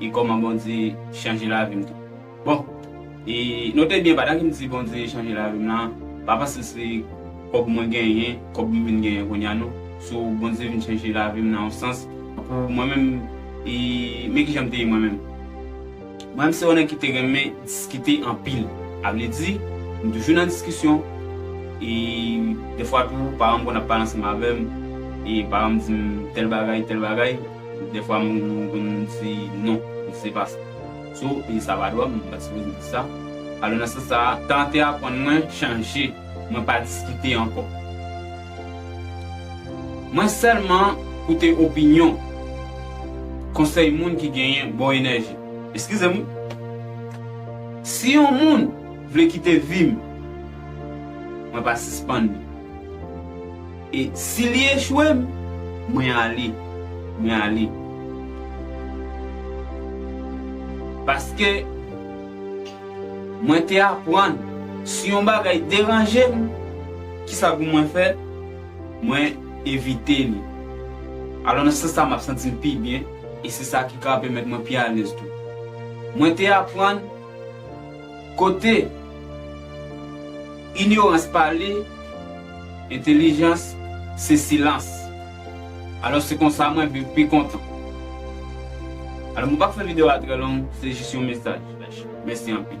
E koman Bondye chanje lavim tou. Bon e note byen padan kim di Bondye chanje lavim lan pa panse se kob mwen genyen kob m vin genyen kounya non so Bondye vin chanje lavim nan yon sans pou mwen menm e men kijan m te ye mwen menm mwen menm se yon nèg ki te renmen diskite anpil avle di m toujou nan diskisyon e dèfwa tou paranm konn ap pale ansanm avèm e paranm dim tèl bagay tèl bagay. Dèfwa m konn di non, m se pas so e sa pa dwa m pa sipoze di sa. Alò nan sans sa a, tan te aprann mwen chanje, mwen pa diskite ankò. Mwen sèlman koute opinyon, konsèy moun ki genyen bon enèji. Eskize m wi. Si yon moun vle kite vi m, mwen pa sispann li. E si li echwe m, mwen ale, mwen ale. Paske, mwen te aprann, si yon bagay deranje m, ki sa pou mwen fè? Mwen evite li. Alò nan sans sa m ap santi m pi byen, e se sa ki ka pèmèt mwen pi alèz tou. Mwen te aprann. Kote inyorans pale, entelijans se silans. Alò se konsa mwen viv pi kontan. Alò mwen pap fè video a trè long, se jis yon mesaj. Mèsi anpil.